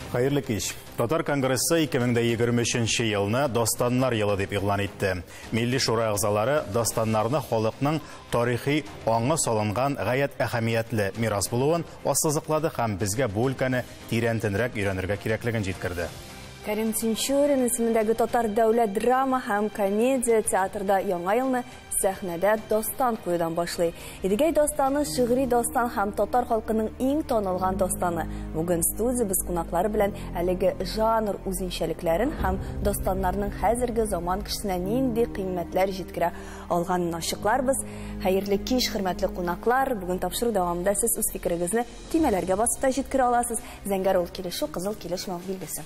Хәерле кич. Татар конгрессы 2023 елны Достаннар елы дип игълан итте. Милли шура әгъзалары Достаннарны халыкның тарихи аңы салынган гаять әһәмиятле мирас булуын ассызыклады һәм безгә бу өлкәне тирәнтенрәк өйрәнергә кирәклеген җиткерде. Кәрим Тинчурин исемендәге татар дәүләт драма һәм комедия театрда яңа елны сәхнәдә дастан куюдан башлый. Идегәй дастаны шигъри дастан һәм татар халкының иң танылган дастаны. Бүген студиябез кунаклары белән әлеге жанр үзенчәлекләрен һәм дастаннарның хәзерге заман кешесенә нинди кыйммәтләр җиткерә алганын ачыкларбыз. Хәерле кич, хөрмәтле кунаклар! Бүген тапшыру дәвамында сез үз фикерегезне Төймәләргә басып та җиткерә аласыз. Зәңгәр ул килешү, кызыл килеш мау билгесе.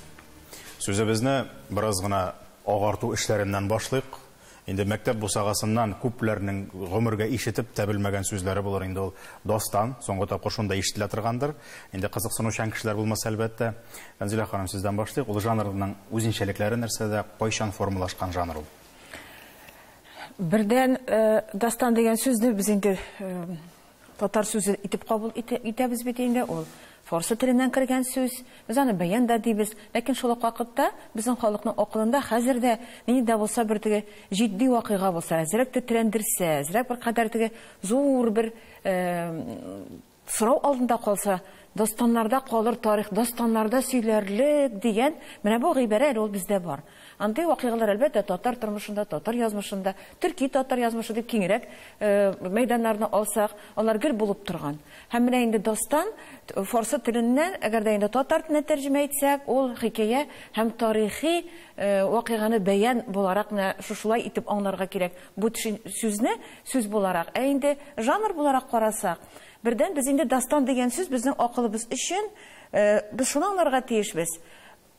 Сүзебезне бераз гына агарту эшләреннән башлыйк. Инде мәктәп бусагасыннан күпләрнең гомергә ишетеп тә белмәгән сүзләре булыр инде ул дастан. Соңгы тапкыр шунда ишетелә торгандыр. Инде кызыксынучан кешеләр булмаса, әлбәттә. Фәнзилә ханым, сездән башлыйк. Ул жанрның үзенчәлекләре нәрсәдә, кайчан формалашкан жанр ул? Бердән, дастан дигән сүзне без инде Татар сүзе итеп кабул итәбез бит инде, ул фарсы теленнән кергән сүз, без аны бәян да дибез, ләкин шул ук вакытта безнең халыкның акылында хәзер дә нинди дә булса бер теге җитди вакыйга булса, әзрәк тетрәндерсә, әзрәк бер кадәр теге зур бер сорау алдында калса, дастаннарда калыр тарих, дастаннарда сөйләрлек дигән менә бу гыйбарә әле ул бездә бар. Андый вакыйгалар, әлбәттә, татар тормышында, татар язмышында, төрки-татар язмышы дип киңрәк мәйданнарны алсак, алар гел булып торган. Һәм менә инде дастан фарсы теленнән, әгәр дә инде татар теленә тәрҗемә итсәк, ул хикәя һәм тарихи вакыйганы бәян буларак менә шушылай итеп аңларга кирәк бу сүзне, сүз буларак. Ә инде жанр буларак карасак, бердән, без инде дастан дигән сүз безнең акылыбыз өчен, без шуны аңларга тиешбез,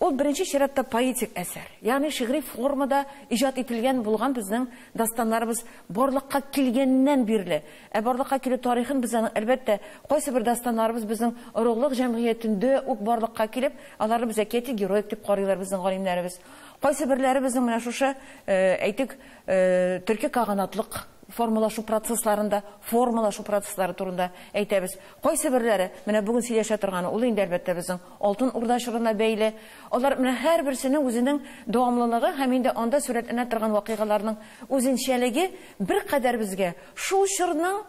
Ул беренче чиратта поэтик әсәр, ягъни шигъри формада иҗат ителгән булган безнең дастаннарыбыз барлыкка килгәннән бирле. Ә барлыкка килү тарихын без аның, әлбәттә, кайсыбер дастаннарыбыз безнең орлык җәмгыятендә үк барлыкка килеп, аларны без әкияти героик дип карыйлар безнең галимнәребез. Кайсыберләре безнең менә шушы, әйтик, төрки каганатлык формалашу процессларында, формалашу процесслары турында әйтәбез. Кайсыберләре, менә бүген сөйләшә торганы, ул инде, әлбәттә, безнең Алтын Урда чорына бәйле. Алар менә һәрберсенең үзенең дәвамлылыгы һәм инде анда сурәтләнә торган вакыйгаларның үзенчәлеге беркадәр безгә шул чорның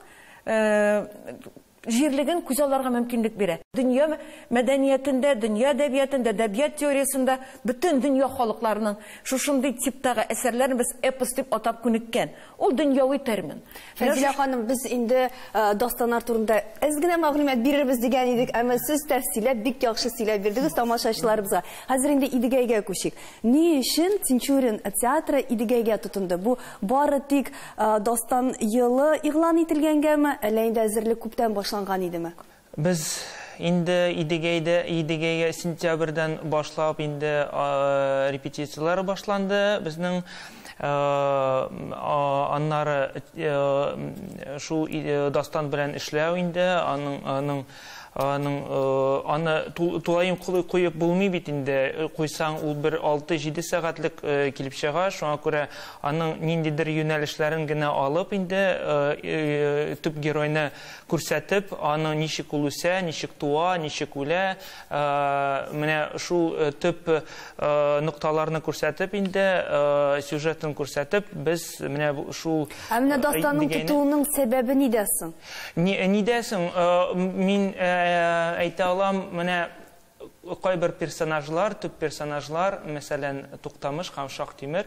җирлеген күзалларга мөмкинлек бирә. Дөнья мәдәниятендә, дөнья әдәбиятында, әдәбият теориясендә бөтен дөнья халыкларының шушындый типтагы әсәрләрен без эпос дип атап күнеккән. Ул дөньяви термин. Фәзилә ханым, без инде дастаннар турында әз генә мәгълүмат бирербез дигән идек, әмма сез тәфсилләп, бик яхшы сөйләп бирдегез тамашачыларыбызга. Хәзер инде Идегәйгә күчик. Ни өчен Тинчурин театры Идегәйгә тотынды? Бу бары тик дастан елы игълан ителгәнгәме, әллә инде әзерлек күптән башланган идеме? Без инде Идегәйдә, Идегәйгә сентябрьдән башлап инде репетицияләр башланды безнең. Аннары шул Дастан белән эшләү инде, аның, аның, аның, аны тулаем куеп булмый бит инде, куйсаң ул бер алты-җиде сәгатьлек килеп чыга, шуңа күрә аның ниндидер юнәлешләрен генә алып инде төп геройны күрсәтеп, аны ничек ул үсә, ничек туа, ничек үлә, менә шул төп нокталарны күрсәтеп инде, сюжетын күрсәтеп, без менә шул... Ә менә дастанның тотуының сәбәбе нидә соң? Нидә соң? Мин әйтә алам, менә Кайбер персонажлар, төп персонажлар, мәсәлән, Туктамыш һәм Шакътимер.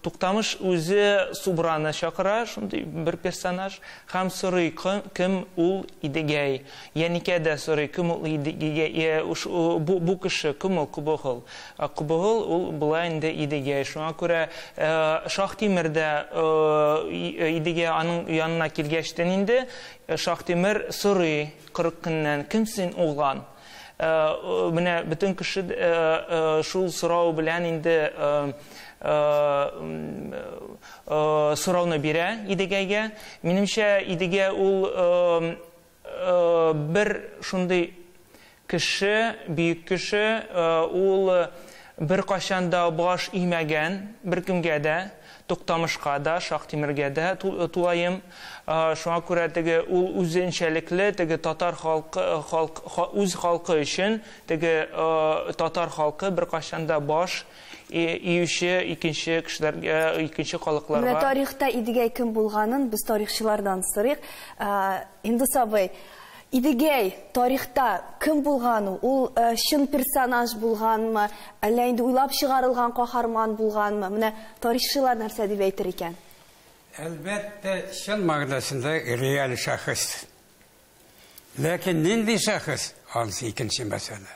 Туктамыш үзе Субраны чакыра, шундый бер персонаж, һәм сорый, кем ул Идегәй. Яникә дә сорый, кем ул Идегәй, бу кеше, кем ул Кобогыл. Кобогыл ул болай инде Идегәй. Шуңа күрә Шакътимер дә Идегәй аның янына килгәчтен инде Шакътимер сорый. Кырык көннән кем син, углан? Менә бөтен кеше шул сорау белән инде сорауны бирә Идегәйгә. Минемчә, Идегә ул бер шундый кеше, бөек кеше, ул беркайчан да баш имәгән беркемгә дә, Туктамышка да, Шактимергә дә тулаем. Шуңа күрә теге ул үзенчәлекле теге татар халкы, халк, үз халкы өчен теге татар халкы беркайчан да баш июче икенче кешеләргә, икенче халыкларга. Менә тарихта Идегәй кем булганын без тарихчылардан сорыйк. Индус абый, Идегәй, тарихта кем булган ул? Ул чын персонаж булганмы, әллә инде уйлап чыгарылган каһарман булганмы? Менә тарихчылар нәрсә дип әйтер икән? Әлбәттә, чын мәгънәсендә реаль шәхес. Ләкин нинди шәхес, анысы икенче мәсьәлә.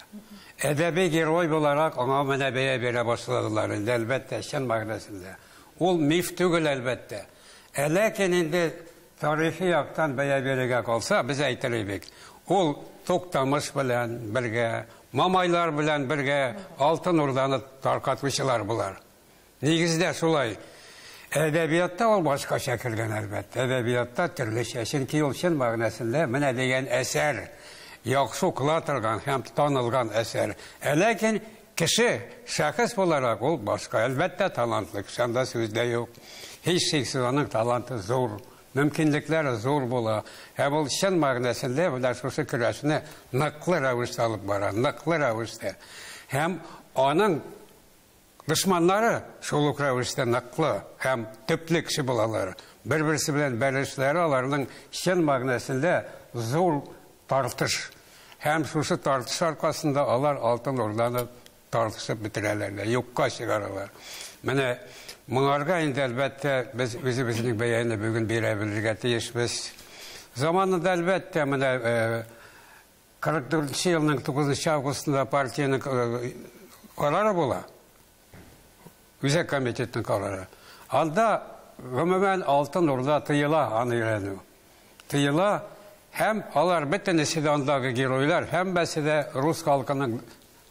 Әдәби герой буларак аңа менә бәя бирә башладылар инде, әлбәттә, чын мәгънәсендә. Ул миф түгел, әлбәттә. Ә ләкин инде Тарихи яктан бәя бирергә калса, без әйтерлек бит, ул Туктамыш белән бергә, Мамайлар белән бергә Алтын Урданы таркатучылар болар. Нигездә шулай. Әдәбиятта ул башкача кергән, әлбәттә. Әдәбиятта төрлечә. Чөнки ул чын мәгънәсендә менә дигән әсәр, яхшы укыла торган һәм танылган әсәр. Ә ләкин Кеше, шәхес буларак ул башка, әлбәттә, талантлы кеше, анда сүз дә юк. Һичшиксез, аның таланты зур, мөмкинлекләре зур була. Һәм ул чын мәгънәсендә менә шушы көрәшне ныклы рәвештә алып бара, ныклы рәвештә. Һәм аның дошманнары шул ук рәвештә ныклы һәм төпле кеше булалар. Бер-берсе белән бәрелешләре аларның чын мәгънәсендә зур Тартыш. Һәм шушы тартыш аркасында алар Алтын Урданы тартышып бетерәләр дә, юкка чыгаралар. Менә моңарга инде, әлбәттә, без үзебезнең бәяне бүген бирә белергә тиешбез. Заманында, әлбәттә, менә 44 нче елның 9 нчы августында партиянең карары була. Үзәк комитетның карары. Анда гомумән Алтын Урда тыела аны өйрәнү. Тыела һәм алар бөтенесе дә андагы геройлар, һәммәсе дә рус халкының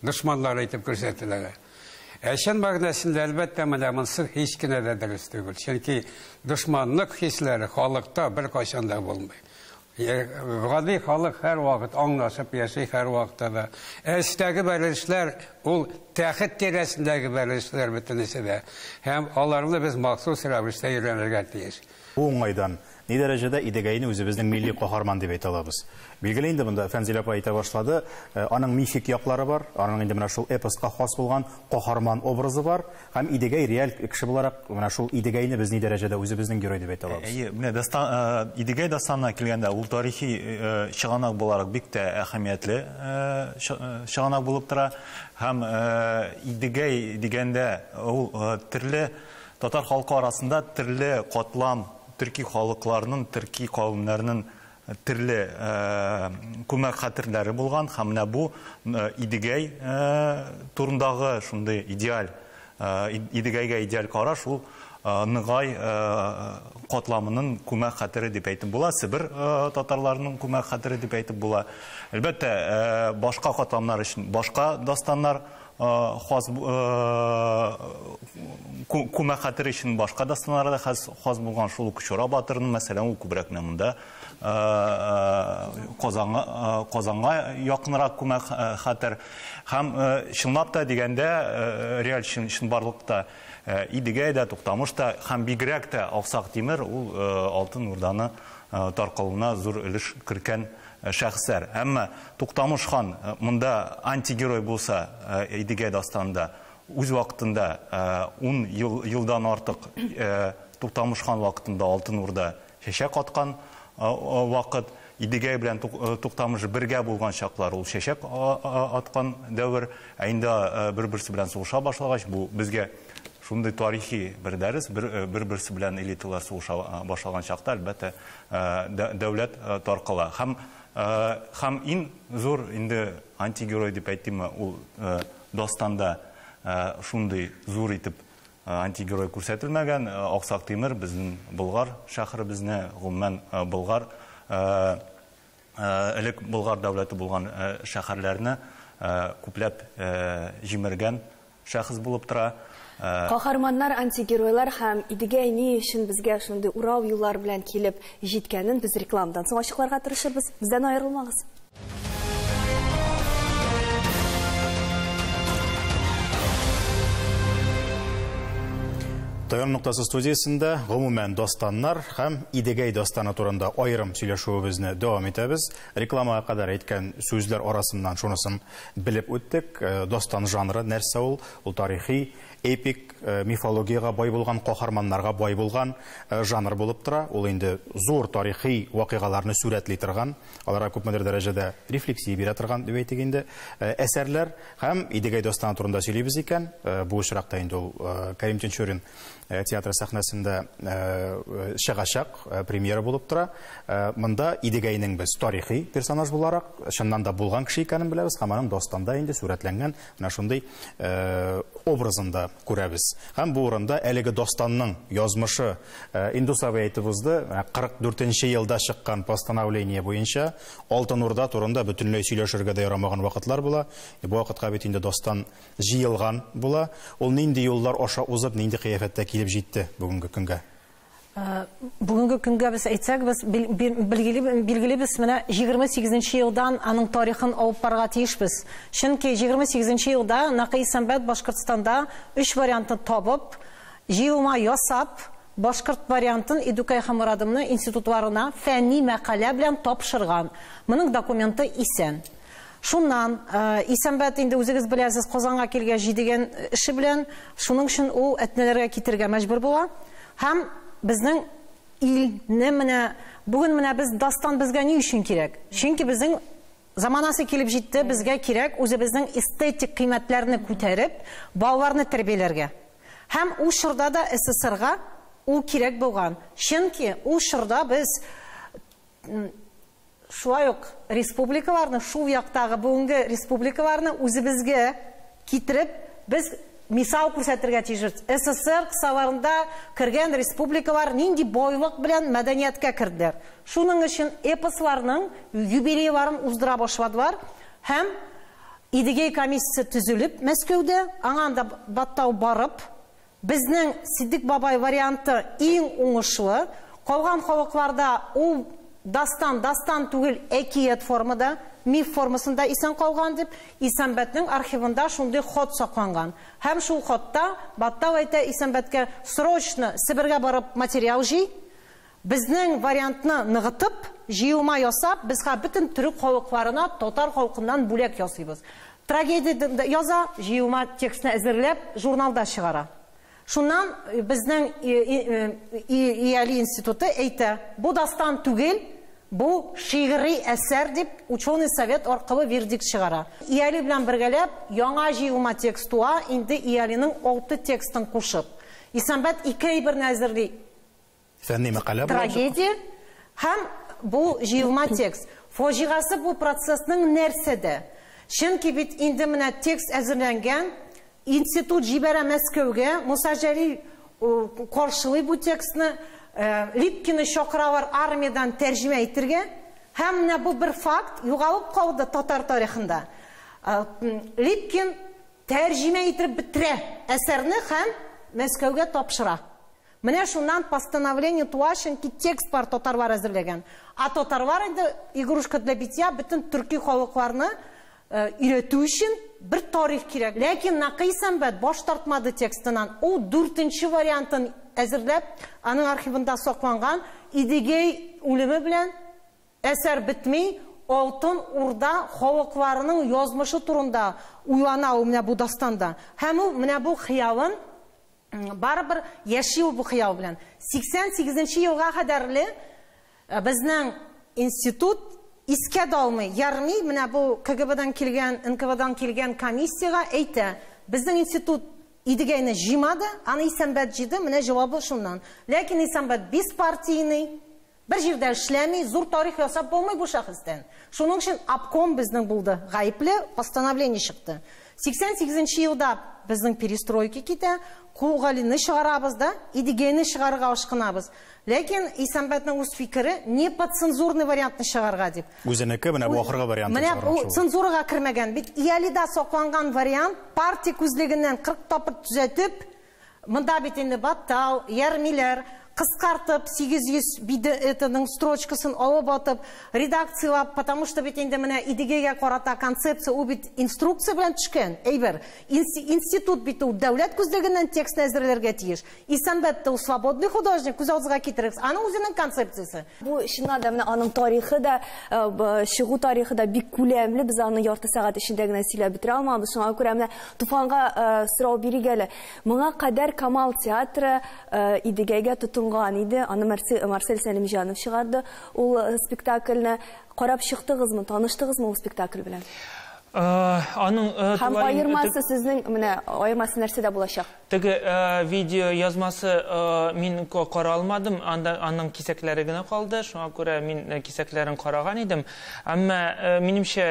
дошманнары итеп күрсәтеләләр. Ә чын мәгънәсендә, әлбәттә, менә монсы һич кенә дә дөрес түгел. Чөнки дошманлык хисләре халыкта беркайчан да булмый. Гади халык һәрвакыт аңлашып яши, һәрвакытта да. Ә эчтәге бәрелешләр, ул тәхет тирәсендәге бәрелешләр бөтенесе дә. Һәм аларны без махсус рәвештә өйрәнергә тиеш. Бу уңайдан, ни дәрәҗәдә Идегәйне үзебезнең милли каһарман дип әйтә алабыз? Билгеле инде, монда Фәнзилә апа әйтә башлады, аның мифик яклары бар, аның инде менә шул эпоска хас булган каһарман образы бар, Һәм Идегәй реаль кеше буларак, менә шул Идегәйне без ни дәрәҗәдә үзебезнең герой дип әйтә алабыз? Әйе, менә дастан, Идегәй дастанына килгәндә, ул тарихи чыганак буларак бик тә әһәмиятле чыганак булып тора. Һәм Идегәй дигәндә, ул төрле татар халкы арасында төрле катлам, төрки халыкларның, төрки кавемнәрнең Төрле күмәк хәтерләре булган һәм менә бу Идегәй турындагы шундый идеаль, Идегәйгә идеаль караш ул Ныгай катламының күмәк хәтере дип әйтеп була, Себер татарларының күмәк хәтере дип әйтеп була. Әлбәттә, башка катламнар өчен башка дастаннар хас күмә хәтер өчен башка да сценарий да хас булган шул ук Чора батырны, мәсәлән, ул күбрәк менә монда Казанга Казанга якынрак күмә хәтер һәм чынлап та дигәндә реаль чын чынбарлыкта Идегәй дә, Туктамыш та һәм бигрәк тә Аксак Тимер ул Алтын Урданы таркалуына зур өлеш керткән Шәхесләр. Әмма Туктамыш хан монда антигерой булса, Идегәй дастанында үз вакытында ун елдан артык Туктамыш хан вакытында Алтын Урда чәчәк аткан вакыт, Идегәй белән Туктамыш бергә булган чаклар ул чәчәк аткан дәвер, ә инде бер-берсе белән сугыша башлагач, бу безгә шундый тарихи бер дәрес, бер-берсе белән элиталар сугыша башлаган чакта, әлбәттә, дәүләт таркала һәм һәм ин зур инде антигерой дип әйтимме ул дастанда шундый зур итеп антигерой күрсәтелмәгән аксак тимер безнең болгар шәһәребезне гомумән болгар элек болгар дәүләте булган шәһәрләрне күпләп җимергән Шәхес булып тора. Каһарманнар, антигеройлар һәм Идегәй ни өчен безгә шундый урау юллар белән килеп җиткәнен без рекламадан соң ачыкларга тырышырбыз. Бездән аерылмагыз. Таян ноктасы студиясендә гомумән дастаннар һәм Идегәй дастаны турында аерым сөйләшүебезне дәвам итәбез. Рекламага кадәр әйткән сүзләр арасыннан шунысын Белеп үттек, дастан жанры нәрсә ул? Ул тарихи, эпик, мифологиягә бай булган, каһарманнарга бай булган жанр булып тора. Ул инде зур тарихи вакыйгаларны сурәтли торган, аларга күпмедер дәрәҗәдә рефлексия бирә торган, дип әйтик инде, әсәрләр. Һәм Идегәй дастаны турында сөйлибез икән, бу очракта инде ул Кәрим Тинчурин э, театры сәхнәсендә э, чыгачак, э, премьера булып тора. Монда Идегәйнең без тарихи персонаж буларак, чыннан да булган кеше икәнен беләбез, һәм аның достанда инде сурәтләнгән менә шундый образында күрәбез. Һәм бу урында әлеге достанның язмышы Индус абый әйтеп узды, 44 елда чыккан постановление буенча Алтын Урда турында бөтенләй сөйләшергә дә ярамаган вакытлар була. Бу вакытка бит инде достан җыелган була. Ул нинди юллар аша узып, нинди кыяфәттә килеп җитте бүгенге көнгә? Бүгенге көнгә без әйтсәк, без билгелибез, менә 28 нче елдан аның тарихын алып барырга тиешбез. Чөнки 28 нче елда Накый Сәмбәт Башкортстанда өч вариантны табып, җыелма ясап, башкорт вариантын Идүкәй һәм Мурадымны институтларына фәнни мәкалә белән тапшырган. Моның документы исән. Шуннан, Исәнбәт, инде үзегез беләсез, Казанга килгәч, җидегән эше белән, шуның өчен ул Әтнәләргә китергә мәҗбүр була һәм безнең илне менә бүген менә без дастан безгә ни өчен кирәк? Чөнки безнең заманасы килеп җитте, безгә кирәк үзебезнең эстетик кыйммәтләрне күтәреп, балаларны тәрбияләргә. Һәм ул чорда да СССРга ул кирәк булган. Чөнки ул чорда без Шулай ук республикаларны, шул яктагы бүгенге республикаларны үзебезгә китереп, без мисал күрсәтергә тиешбез. СССР кысаларында кергән республикалар нинди байлык белән мәдәнияткә керделәр. Шуның өчен эпосларның юбилейларын уздыра башладылар һәм Идегей комиссиясе төзелеп Мәскәүдә, аңа анда баттау барып, Безнең Ситдик бабай варианты иң уңышлы. Калган халыкларда ул дастан, дастан түгел, әкият формада, миф формасында исән калган дип, Исәнбәтнең архивында шундый хат сакланган. Һәм шул хатта Баттал әйтә Исәнбәткә, срочно Себергә барып материал җый, Безнең вариантны ныгытып, җыелма ясап, безга бөтен төрек халыкларына татар халкыннан бүләк ясыйбыз. Трагедия яза, җыелма текстны әзерләп, журналда чыгара. Шуннан безнең Иали институты әйтә, бу дастан түгел, бу шигъри әсәр дип, ученый совет аркылы вердикт чыгара. Иали белән бергәләп яңа җыелма текст туа, инде Иалиның алты текстын кушып. Исәнбәт ике әйберне әзерли. Фәнни мәкалә була. Трагедия һәм бу җыелма текст. Фаҗигасы бу процессның нәрсәдә? Чөнки бит инде менә текст әзерләнгән, институт җибәрә Мәскәүгә, Муса Җәлил каршылый бу текстны, Липкины чакыралар армиядән тәрҗемә итергә. Һәм менә бу бер факт югалып калды татар тарихында. Липкин тәрҗемә итеп бетерә әсәрне һәм Мәскәүгә тапшыра. Менә шуннан постановление туа чөнки текст бар татарлар әзерләгән. А татарлар инде игрушка для битья бөтен төрки халыкларны өйрәтү өчен бер тарих кирәк. Ләкин Накый Сәмбәт баш тартмады текстыннан, ул дүртенче вариантын әзерләп, аның архивында сакланган, Идегәй үлеме белән әсәр бетми, Алтын Урда халыкларының язмышы турында уйлана ул менә бу дастанда. Һәм ул менә бу хыялын Барыбер яши ул бу хыял белән. 88 нче елга кадәрле безнең институт искә дә алмый, ярмый, менә бу КГБдан килгән, НКВДан килгән комиссиягә әйтә, безнең институт Идегәйне җыймады, аны Исәнбәт җыйды, менә җавабы шуннан. Ләкин Исәнбәт беспартийный, Бер җирдә эшләми, зур тарих ясап булмый бу шәхестән. Шуның өчен обком безнең булды, гаепле постановление чыкты. 88 нче елда безнең перестройка китә, Кул Галине чыгарабыз да, Идегәйне чыгарырга ашкынабыз. Ләкин Исәнбәтнең үз фикере, не под цензурный вариантны чыгарырга дип. Үзенеке менә бу ахыргы вариантын Менә чыгарган бу шул. цензурага кермәгән, бит Иалида сакланган вариант партия күзлегеннән 40 тапкыр төзәтеп, Монда бит инде баттал, ярмиләр, кыскартып, 800 биде этының строчкасын алып атып, редакцияләп, потому что бит инде менә Идегәйгә карата концепция, ул бит инструкция белән төшкән әйбер. Инси, институт бит ул дәүләт күзлегеннән текстны әзерләргә тиеш. Исәнбәт тә ул свободный художник, күз агызга китерегез, аның үзенең концепциясе. Бу чыннан да менә аның тарихы да, чыгу тарихы да бик күләмле. Без аны ярты сәгать эчендә генә сөйләп бетерә алмабыз. Шуңа күрә менә Туфанга сорау бирик әле. Моңа кадәр Камал театры Идегәйгә тотынган иде. Аны Марсель Сәлимҗанов чыгарды. Ул спектакльне карап чыктыгызмы, таныштыгызмы ул спектакль белән? Аның тулаем... Һәм аермасы сезнең, менә аермасы нәрсәдә булачак? Теге видео язмасы мин кара алмадым, анда аның кисәкләре генә калды, шуңа күрә мин кисәкләрен караган идем. Әмма минемчә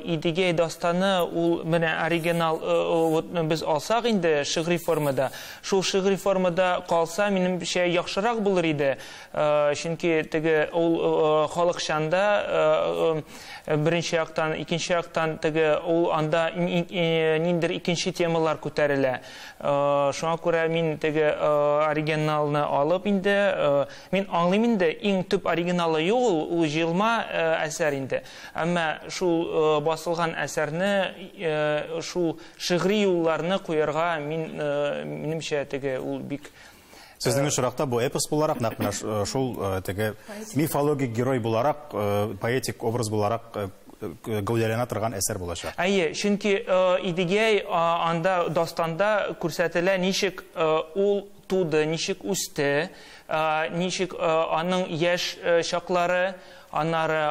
Идигей дастаны ул менә оригинал без алсак инде шигъри формада, шул шигъри формада калса, минемчә яхшырак булыр иде. Чөнки теге ул халыкчанда Беренче яктан, икенче яктан теге ул анда ниндидер икенче темалар күтәрелә. Шуңа күрә мин теге оригиналны алып инде, мин аңлыйм инде, иң төп оригиналы юк ул, ул җыелма әсәр инде. Әмма шул басылган әсәрне, шул шигъри юлларны куярга мин, минемчә, теге ул бик Сезнең очракта бу эпос буларак, нәкъ менә шул теге мифологик герой буларак, поэтик образ буларак гәүдәләнә торган әсәр булачак. Әйе, чөнки Идегәй анда дастанда күрсәтелә, ничек ул туды, ничек үсте, ничек аның яшь чаклары, Аннары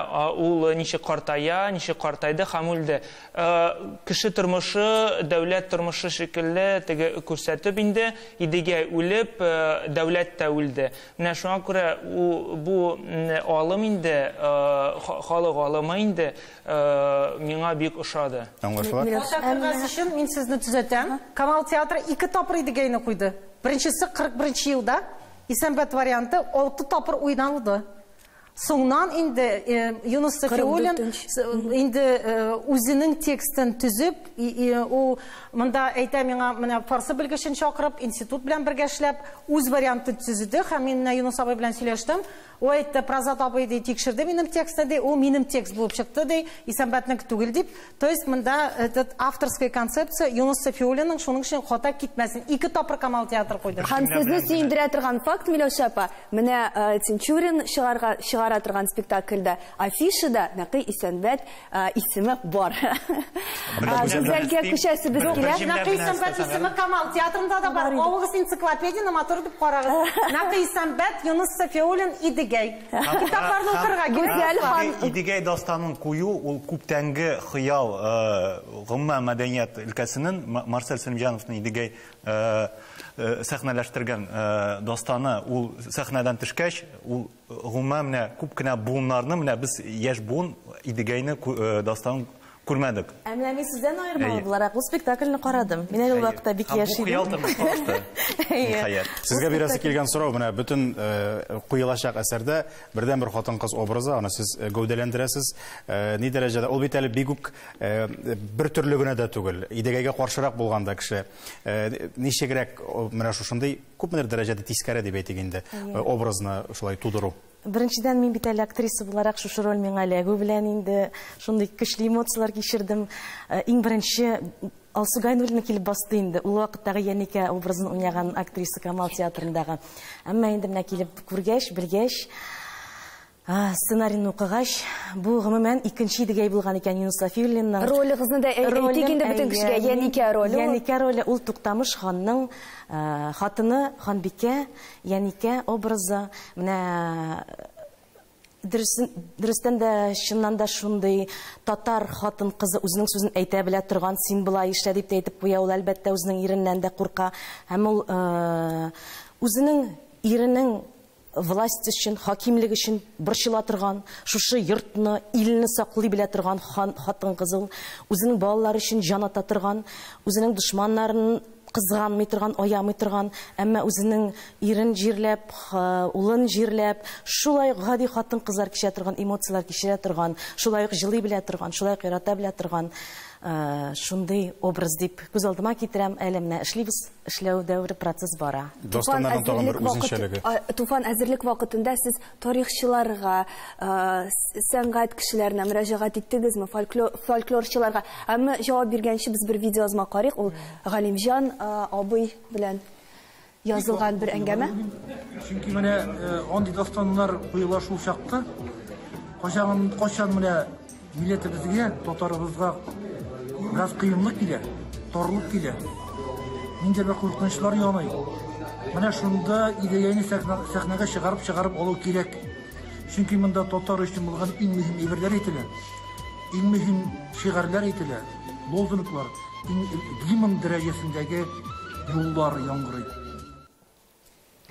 ул ничек картая, ничек картайды һәм үлде. Кеше тормышы, дәүләт тормышы шикелле теге күрсәтеп инде, Идегәй үлеп, дәүләт тә үлде. Менә шуңа күрә бу алым инде, халык алымы инде миңа бик ошады. Аңлашыла. Карта кергәс өчен мин сезне төзәтәм. Камал театры ике тапкыр Идегәйне куйды. Беренчесе 41 нче елда, Исәнбәт варианты алты тапкыр уйналды. Соңнан инде Юнус Сафиуллин инде үзенең текстын төзеп, ул монда әйтә миңа, менә фарсы белгечен чакырып, институт белән бергә эшләп, үз вариантын төзеде һәм мин менә Юнус абый белән сөйләштем. Ул әйтте, Празат абый ди, тикшерде минем текстны ди, ул минем текст булып чыкты ди, Исәнбәтнеке түгел дип. То есть монда этот авторская концепция Юнус Сафиуллинның шуның өчен хата китмәсен. Ике тапкыр Камал театры куйды. Һәм сезне сөендерә торган факт, Миләүшә апа, менә Тинчурин чыгарга чыгара торган спектакльдә афишада Нәкый Исәнбәт исеме бар. Гүзәлгә күчәсебез килә. Нәкый Исәнбәт исеме Камал театрында да бар. Алыгыз энциклопедияне матур итеп карагыз. Нәкый Исәнбәт, Юнус Сафиуллин, Идегәй. Китапларны укырга кирәк. Идегәй дастанын кую ул күптәнге хыял, гомма мәдәният өлкәсенен Марсель Сәлимҗановның Идегәй сәхнәләштергән дастаны ул сәхнәдән төшкәч, ул гомма менә күп кенә буыннарны менә без яшь буын Идегәйне дастанын Күрмәдек. Ә менә мин сездән аермалы буларак бу спектакльне карадым. Мин әле ул вакытта бик яшь идем. Бу хыял тормыш кылышты. Ниһаять. Сезгә бирәсе килгән сорау менә бөтен э, куелачак әсәрдә бердән бер хатын-кыз образы, аны сез э, гәүдәләндерәсез. Э, ни дәрәҗәдә? Ул бит әле бик үк бер төрле генә дә түгел. Идегәйгә каршырак булганда кеше ничегрәк менә шушындый күпмедер дәрәҗәдә тискәре дип әйтик инде образны шулай тудыру. Беренчедән, мин бит әле актриса буларак, шушы роль миңа эләгү белән инде шундый көчле эмоцияләр кичердем. Иң беренче Алсу Гайнуллина килеп басты инде, ул вакыттагы Яникә образын уйнаган актриса Камал театрындагы. Әмма инде менә килеп күргәч, белгәч, сценарийны укыгач, бу гомумән икенче Идегәй булган икән Юныс Сафиуллинның. Ролегызны да әйтик инде бөтен кешегә, Яникә роле ул. Яникә роле ул Туктамыш ханның хатыны, ханбикә. Яникә образы менә дөресен дөрестән дә чыннан да шундый татар хатын кызы үзенең сүзен әйтә белә торган син болай эшлә дип тә әйтеп куя ул әлбәттә үзенең иреннән дә курка һәм ул э, үзенең иренең власть өчен хакимлек өчен борчыла торган шушы йортны илне саклый белә торган хан хатын кыз ул үзенең балалары өчен җан ата торган үзенең дошманнарын Кызганмый торган, аямый торган, әмма үзенең ирен җирләп, улын җирләп, шулай ук гади хатын-кызлар кичерә торган эмоцияләр кичерә торган, шулай ук җылый белә торган, шулай ук ярата белә торган шундый образ дип күз алдыма китерәм. Әле менә эшлибез, эшләү дәвере, процесс бара. Туфан әзерлек вакытында сез тарихчыларга, сәнгать кешеләренә мөрәҗәгать иттегезме, фольклорчыларга? Әмма җавап биргәнче без бер видеоязма карыйк, ул Галимҗан абый белән язылган бер әңгәмә. Чөнки менә андый дастаннар куела шул чакта, кайчан менә Милләтебезгә, татарыбызга бераз кыенлык килә, торлык килә. Нинди бер куркынычлар яный. Менә шунда идеяне сәхнәгә чыгарып-чыгарып алу кирәк. Чөнки монда татар өчен булган иң мөһим әйберләр әйтелә. Иң мөһим шигарләр әйтелә, лозунглар, иң гимн дәрәҗәсендәге юллар яңгырый.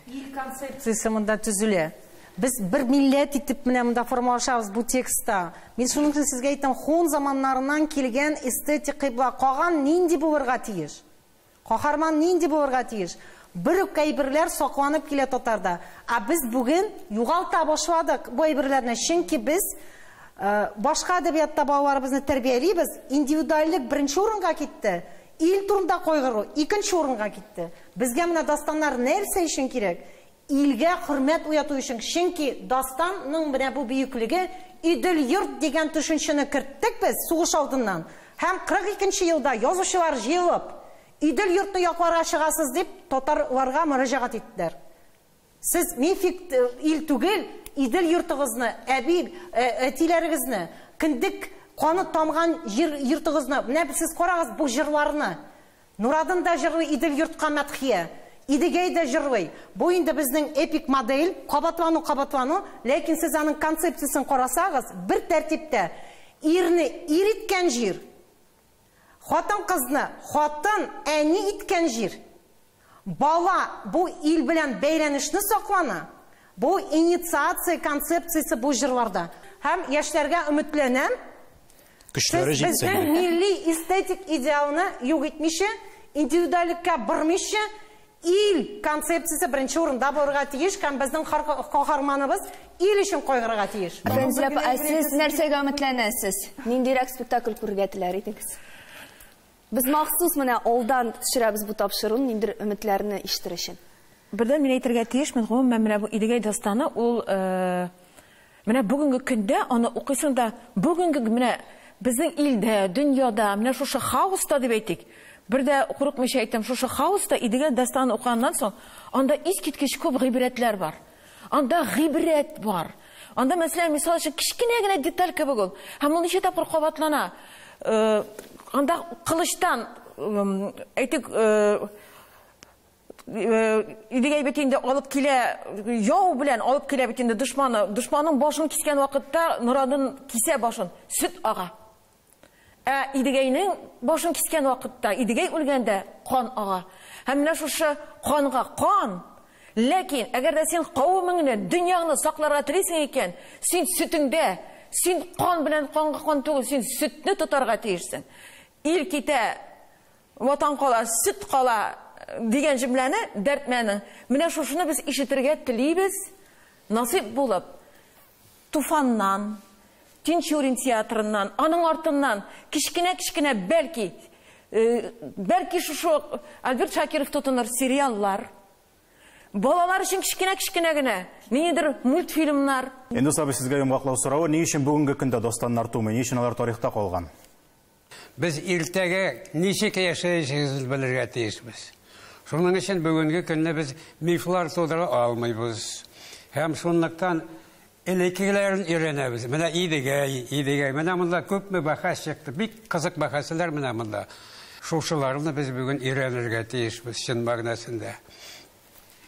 Ил концепциясе монда төзелә. Без бер милләт итеп менә монда формалашабыз бу текстта. Мин шуның өчен сезгә әйтәм, хун заманнарыннан килгән эстетик кыйбла каган нинди булырга тиеш? Каһарман нинди булырга тиеш? Бер үк әйберләр сакланып килә татарда. Ә без бүген югалта башладык бу әйберләрне, чөнки без э, башка әдәбиятта балаларыбызны тәрбиялибез, индивидуальлек беренче урынга китте. Ил турында кайгыру икенче урынга китте. Безгә менә дастаннар нәрсә өчен кирәк? Илгә хөрмәт уяту өчен, чөнки дастан ның менә бу бөеклеге, Идел-йорт дигән төшенчене керттек без сугыш алдыннан һәм 42 нче елда язучылар җыелып, Идел-йортны якларга чыгасыз дип татар ларга мөрәҗәгать иттеләр. Сез мифик ил түгел, Идел йортыгызны, әби, әтиләрегезне, кендек каны тамган җир йортыгызны, менә сез карагыз бу җырларны. Нурадын да җырлый Идел йортка мәдхия. Идегәй дә җырлый. Бу инде безнең эпик модель, кабатлану, кабатлану, ләкин сез аның концепциясен карасагыз, бер тәртиптә, ирне ир иткән җир, Хатын-кызны хатын, әни иткән җир. Бала, бу ил белән бәйләнешне саклана. Бу инициация концепциясе бу җырларда. Һәм яшьләргә өметләнәм, Көчләре сез җитсен! безнең милли эстетик идеалны юк итмичә, индивидуальлеккә бормыйча, Ил концепциясе беренче урында булырга тиеш һәм безнең һәр каһарманыбыз ил өчен кайгырырга тиеш. Фәнзия апа, ә сез нәрсәгә өметләнәсез? Ниндирәк спектакль күрергә теләр идегез? Без махсус менә алдан төшерәбез бу тапшыруны, ниндидер өметләрне ишетер өчен. Бердән мин әйтергә тиешмен, гомумән, менә бу Идегәй дастаны, ул Менә бүгенге көндә аны укыйсың да, бүгенге менә безнең илдә, дөньяда, менә шушы хаоста дип әйтик, бер дә курыкмыйча әйтәм, шушы хаоста Идегәл дастанын укыганнан соң, анда искиткеч күп гыйбрәтләр бар. Анда гыйбрәт бар. Анда, мәсәлән, мисал өчен, кечкенә генә деталь кебек ул. Һәм ул ничә тапкыр кабатлана. Анда кылычтан, әйтик, Идегәй бит инде алып килә, яу белән алып килә бит инде дошманы. Дошманның башын кискән вакытта Норадын кисә башын, сөт ага. Ә Идегәйнең башын кискән вакытта, Идегәй үлгәндә кан ага. Һәм менә шушы канга кан. Ләкин, әгәр дә син кавымыңны, дөньяңны сакларга телисең икән, син сөтеңдә, син кан белән канга кан түгел, син сөтне тотарга тиешсең. Ил китә, Ватан кала, сөт кала дигән җөмләне Дәрдмәнең. Менә шушыны без ишетергә телибез, насыйп булып. Туфаннан, Тинчурин театрыннан, аның артыннан кечкенә-кечкенә, бәлки, бәлки шушы ук Альберт Шакиров тотыныр сериаллар, балалар өчен кечкенә-кечкенә генә ниндидер мультфильмнар. Эндус абый, сезгә йомгаклау соравы, ни өчен бүгенге көндә дастаннар тумый, ни өчен алар тарихта калган? Без иртәгә ничек яшәячәгебезне белергә тиешбез. Шуның өчен бүгенге көнне без мифлар тудыра алмыйбыз. Һәм шунлыктан элеккеләрен өйрәнәбез. Менә Идегәй, Идегәй. Менә монда күпме бәхәс чыкты. Бик кызык бәхәсләр менә монда. Шушыларны без бүген өйрәнергә тиешбез чын мәгънәсендә.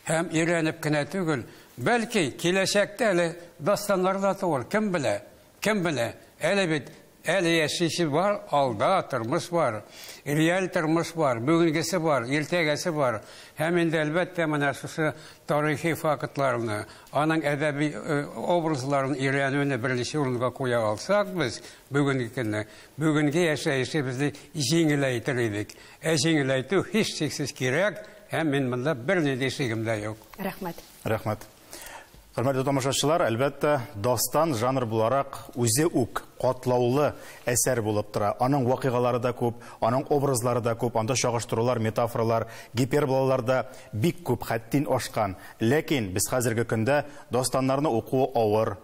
Һәм өйрәнеп кенә түгел, бәлки киләчәктә әле дастаннар да туыр, кем белә. Кем белә, әле бит, әле яшисе бар, алда тормыш бар, реаль тормыш бар, бүгенгесе бар, иртәгәсе бар. Һәм инде, әлбәттә, менә шушы тарихи фактларны, аның әдәби образларын өйрәнүне беренче урынга куя алсак без, бүгенге көнне, бүгенге яшәешебезне җиңеләйтер идек. Ә җиңеләйтү, һичшиксез, кирәк, һәм мин монда бернинди шигем дә юк. Рәхмәт. Рәхмәт. Хөрмәтле тамашачылар, әлбәттә, дастан жанр буларак үзе үк катлаулы әсәр булып тора. Аның вакыйгалары да күп, аның образлары да күп, анда чагыштырулар, метафоралар, гиперболалар да бик күп, хәттин ашкан. Ләкин без хәзерге көндә дастаннарны уку авыр,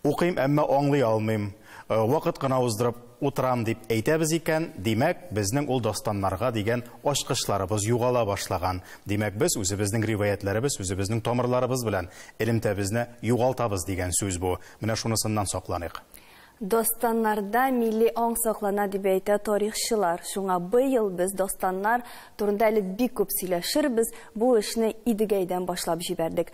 Укыйм, әмма аңлый алмыйм, вакыт кына уздырып утырам, дип әйтәбез икән, димәк, безнең ул дастаннарга дигән ачкычларыбыз югала башлаган. Димәк, без үзебезнең риваятьләребез, үзебезнең тамырларыбыз белән элемтәбезне югалтабыз дигән сүз бу. Менә шунысыннан сакланыйк. Дастаннарда милли аң саклана, дип әйтә тарихчылар. Шуңа быел без дастаннар турында әле бик күп сөйләшербез, бу эшне Идегәйдән башлап җибәрдек.